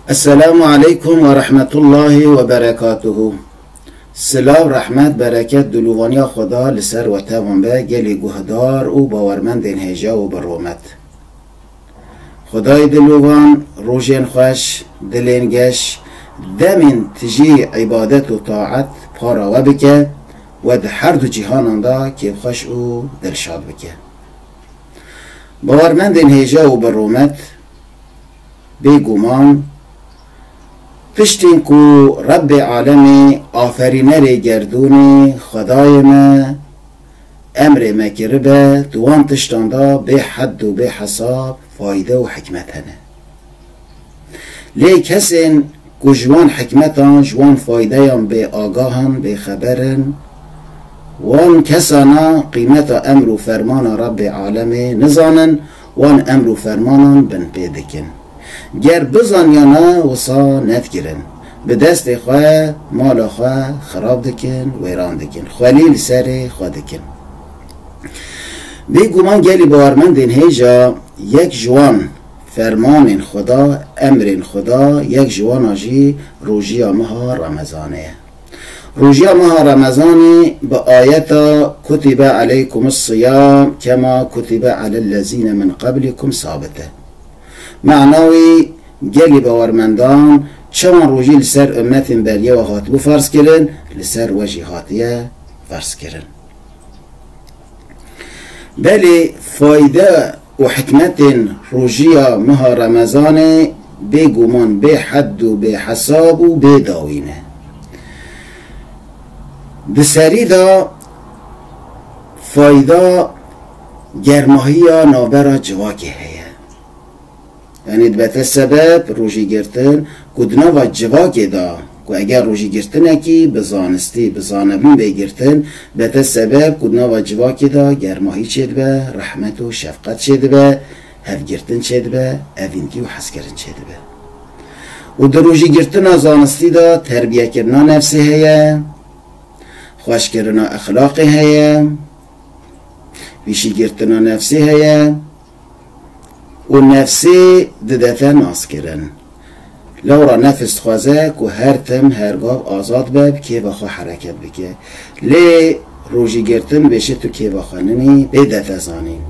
Esselamu aleykum ve rahmetullahi ve berekatuhu. Silav, rehmet, bereket, dulûvaniya Xweda li ser we tevan be gelê guhdar û bawermendên hêja û bi romet. Xwedayê dilûvan rojên xweş, dilên geş, demên tijî îbadet û taet para we bike we di herdu cîhanan de kêfxweş û dilşad bike. Bawermendên hêja û bi rûmet, bê guman piştên ku Rebbê Alemê Aferînerê Gerdûnê Xwedayê me emrê me kiribe di wan tiştan de bê hed û bê hesab fayde û hikmet hene. Lê kesên ku ji wan hikmetan, ji wan faydeyan bêagah in, bêxeber in, wan kesana qîmeta emr û fermana Rebbê Alemê nizanin, wan emr û fermanan binpê dikin. Ger bizanyana wisa nedikirin. Bi destê xwe mala xwe xirab dikin, wêran dikin. Xwelî li serê xwe dikin. Bêguman gelî bawermendên hêja yek ji wan, Fermanên xwe da, emrên xwe da, yek ji wan a jî rojiya meha Remezanê ye. Rojiya meha Remezanê bi ayeta kutibe aleykumus siyam kema kutibe alel lezîne min qeblikum sabit e. Mana wî gelî bawermendan çawan rojî li ser ummetên beriye we hatibû ferzkirin, li ser we jî hatiye ferzkirin. Belê fayde Û hikmetên rojiya meha remezanê bê guman bê hed û bê hesab û bê dawî ne. Di serî de fayda germahiya navbera civakê heye. Yanî dibete sebeb rojî girtin ku di nava civakê de ku eger rojî girtinekî bi zanistî, bi zanebûn bê girtin, dibete sebeb ku di nava civakê de germahî çêdibe, rehmet û şefqet çêdibe, hevgirtin çêdibe, evîntî û hezkirin çêdibe. Û di rojî girtina zanistî de terbiyekirina nefsê heye, xweşkirina exlaqê heye, pîşîgirtina nefsê heye, Û nefsê didefe naskirin. Lewra nefs dixwaze ku her tim, her gav azad be, bi kêfa xwe hereket bike. Lê rojî girtin dibêje tu kêfa xwe ninî, bê defe zanîn.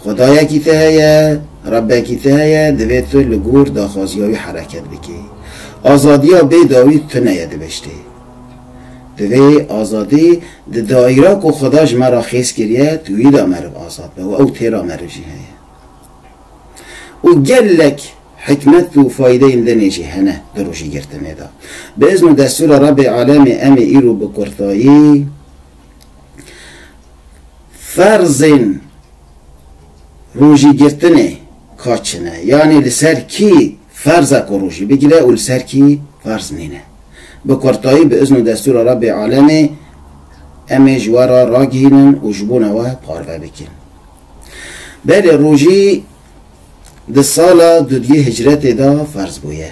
Xwedayekî te heye, Rebekî te heye, divê tu li gor daxwaziya wî hereket bikî. Azadiya bê dawî tuneye dibiştê. Divê azadî di daîra ku Xweda ji me re xêz kiriye tûyî de meriv azad be û ew têra meriv jî heye. Û gelek hikmet û faydeyên dinê jî hene di rojîgirtinê de. Bi izn û destûra Rebê Alemê em ê îro bi kurtayî ferzên rojîgirtinê ka çi ne, yanî li ser kî Ferz e ku rojî bigire û li ser kî ferz nîne. Bi kurtayî bi izn û destûra Rebbê alemê em ê ji we re ragihînin û ji bona we parve bikin. Belê rojî di sala duduyê hicretê de ferz bûye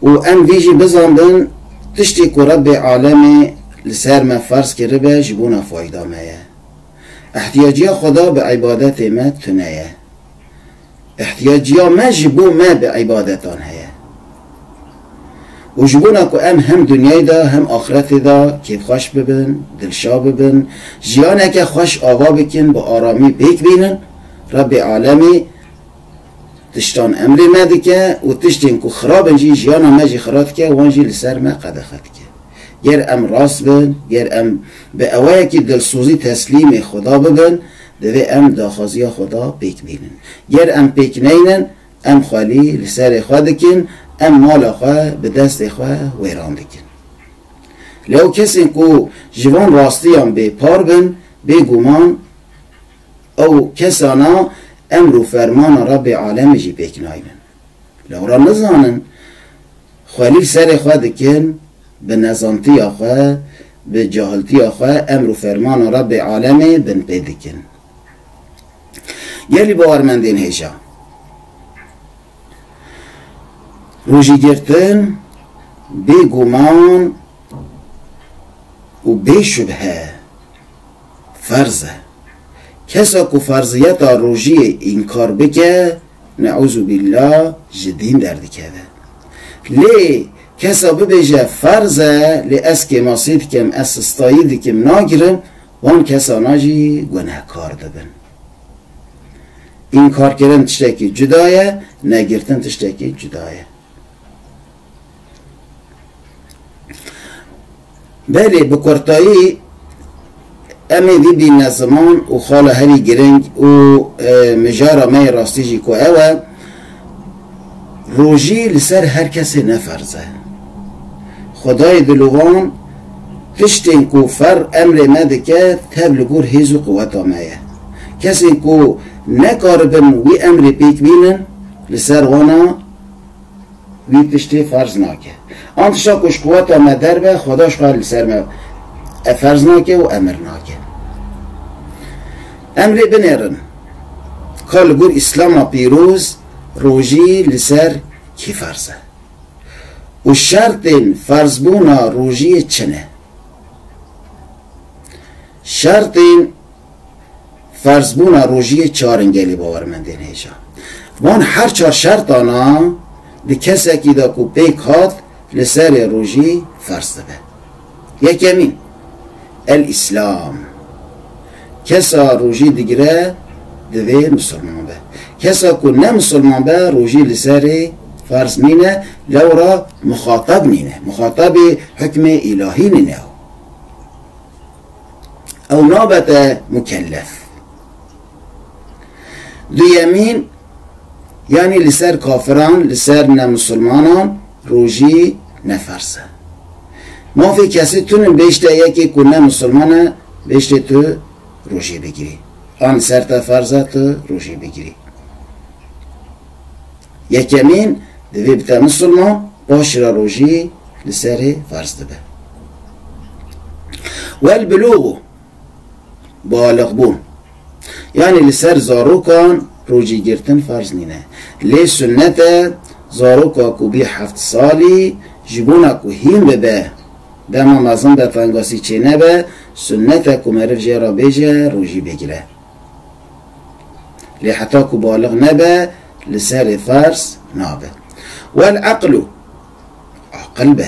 û em vî jî bizanbin tiştê ku Rebbê alemê li ser me ferz kiribe ji bona fayda me ye. Ehtiyacîya Xweda bi îbadetê me tune ye. Îhtîyaciya me ji bo me bi îbadetan heye. Û ji bona ku em hem dinyayê de hem axretê de kêfxweş bibin, dilşa bibin, jiyaneke xweş ava bikin, bi aramî pêk bînin, Rebbê Alemî tiştan emrê me dike û tiştên ku xirab in jî jiyana me jî xira dike wan jî li ser me qedexe dike. Ger em rast bin, ger em bi ewayekî dilsozî teslîmê Xweda bibin, Divê em daxwaziya xwe da pêk bînin. Ger em pêk neynin, em xwelî li serê xwe dikin, em mala xwe bi destê xwe wêran dikin. Leo kesên ku ji van rastiyan bê par bin, bê guman ew kesana emr û fermana Rebê Alemê jî pêk naynin. Lewra nizanin xwelî serê xwe dikin bi nezantiya xwe, bi cahiltiya xwe emr û fermana Rebbê alemê binpê dikin. Gelî bawermendên hêja rojî girtin bê guman û bê şubhe ferz e. Kesa ku ferziyeta rojiyê înkar bike, Neûzubîlla ji dîn derdikeve. Lê kesa bibêje ferz e lê ez kêmasî dikim, ez sistayî dikim nagirim wan kesana jî gunehkar dibin. Înkarkirin tiştekî cuda ye, negirtin tiştekî cuda ye. Belê bi kurtayî em ê bibîne ziman û xala herî girîng û mijara me yê rastî jî ku ew e, rojî li ser her kesê ne ferz e. Xwedayê dilovan tiştên ku ferr emrê me dike tev li gor hêz û quweta me ye. Kesên ku nekaribin wî emrê pêk bînin li ser wan a, Wî tiştê ferz nake. An tişta ku ji quweta me derbe, Xweda ji xwe li ser me e ferz nake û emir nake. Em rê binêrin ka li gor Îslama pîroz rojî li ser kî ferz e û şertên ferzbûna rojiyê çi ne? Şertên ferzbûna rojî yê çarin gelê bawermendên hêja. Van her çar şertana di kesekî de ku pêk hat li serê rojî ferz dibe. Yekemîn, El Îslam. Kesa rojî digire divê misilman be. Kesa ku ne misilman be rojî li serê ferz nîne, lewra mixatab nîne. Mixatabê hukmê îlahî nîne ew. ew nabete mukellef. Duyemîn, yanî li ser kafiran, li ser nemusulmanan rojî ne ferz e. Mafê kesî tun in bêjte yekê ku ne musulman e bêjtê tu rojî bigirî. An li ser te ferz e tu rojî bigirî. Yekemîn divê bi te misilman paşî re rojî li serê ferz dibe. Welbulûg balixbûn yanî li ser zarokan rojî girtin ferz nîne. Lê sunnet e zaroka ku bî heft salî ji bona ku hîn bibe dema mezin be tengasî çênebe, sunnet e ku meriv jê re bêje rojî bigire. Lê heta ku balix nebe li serê ferz nabe. Wel eqlu, aqil be.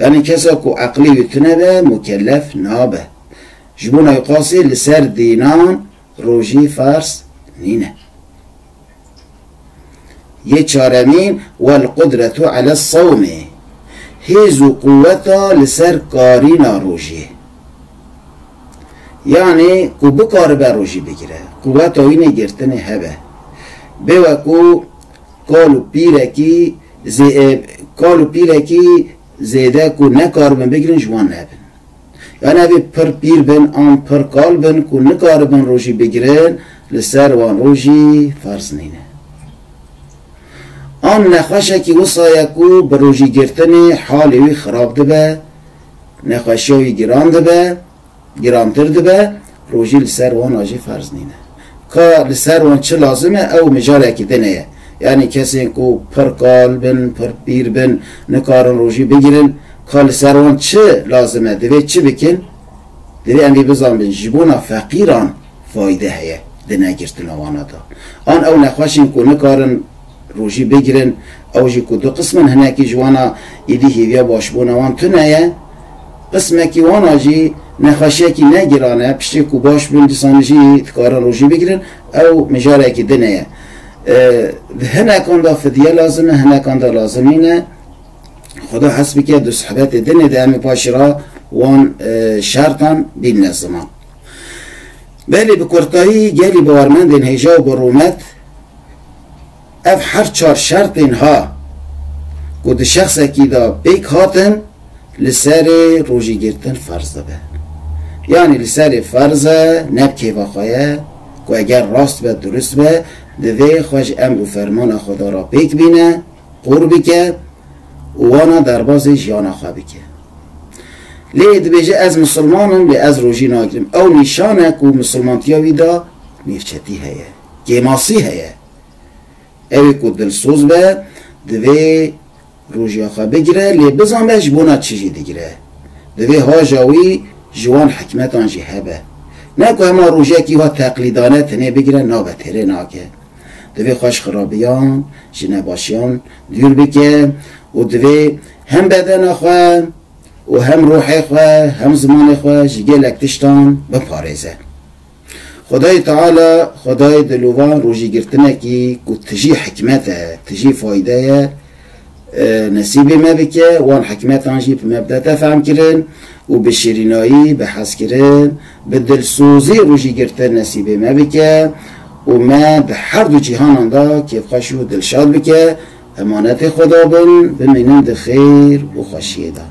Yanî kesa ku eqlê wî tune be mukellef nabe. Ji bo nayqasî li ser dînan rojî ferz nîne. Yê çaremîn, Welqudratu alessawmê, Hêz û quweta li ser karîna rojê. Yanî ku bikaribe rojî bigire, quweta wî nê girtinê hebe. Bê weku kal û pîrekî zê, kal û pîrekî zêde ku nekaribin bigirin ji wan hebin. Yan evê pir pîr bin an pir kal bin ku nikaribin rojî bigirin li ser wan rojî ferz nîne. An nexweşekî wisa ye ku bi rojîgirtinê halê wî xirab dibe, nexweşiya wî giran dibe, girantir dibe, Rojî li ser wan a jî ferz nîne. Ka li ser wan çi lazim e ew mijalekî din heye. Yanî kesên ku pir kal bin, pir pîr bin nikarin rojî bigirin. Ka li ser wan çi lazim e, divê çi bikin? Divê em vê bizanbin ji bona feqîran fayde heye di negirtina wana de. An ew nexweşên ku nikarin Rojî bigrin, ew jî ku du qism in, hinekî ji wan a êdî hêviya başbûna wan tune ye, qismekî wan a jî nexweşiyekî ne giran e, piştî ku baş bin dîsanî jî dikarin rojî bigrin, ew mijarekî din e ye. Di hinekan de fidye lazim e, hinekan de lazim nîne. Xweda hes bike di sohbetê din e de em ê paşê re wan şertan bînine ziman. Belê bi kurtayî gelî bawermendên hêja û bi rûmet, Ev her çar şertên ha ku di şexsekî de pêk hatin li serê rojî girtin ferz dibe. Yanî li serê ferz e ne bi kêfa xwe ye ku eger rast be durist be divê xwe ji emr û fermana Xweda re pêk bîne, qûr bike û wana derbazê jiyana xwe bike. Lê dibêje ez misilman im lê ez rojî nagirim ew nîşan e ku misilmantiya wî de nêrçetî heye. Kêmasî heye. Ew ê ku dilsoz be, divê rojiya xwe bigire lê bizanbe ji bona çi jî digire. Divê haja wî ji wan hikmetan jî hebe. Ne ku hema rojekî wa teqlîdane tenê bigire nabe têrê nake. Divê xwe ji xirabiyan, ji nebaşiyan dûr bike û divê hem bedena xwe û hem ruhê xwe, hem zimanê xwe ji gelek tiştan biparêze. Xwedayê Teala, Xwedayê dilovan rojî girtinekî ku tijî hikmet e, tijî fayde ye nesîbê me bike, wan hikmetan jî bi me bidete fehmkirin û bi şirînayî, bi hezkirin, bi dilsozî rojî girtin nesîbê me bike û me di her du cîhanan de kêfxweş û dilşad bike. Emanetê Xweda bin, bimînin di xêr û xweşiyê de.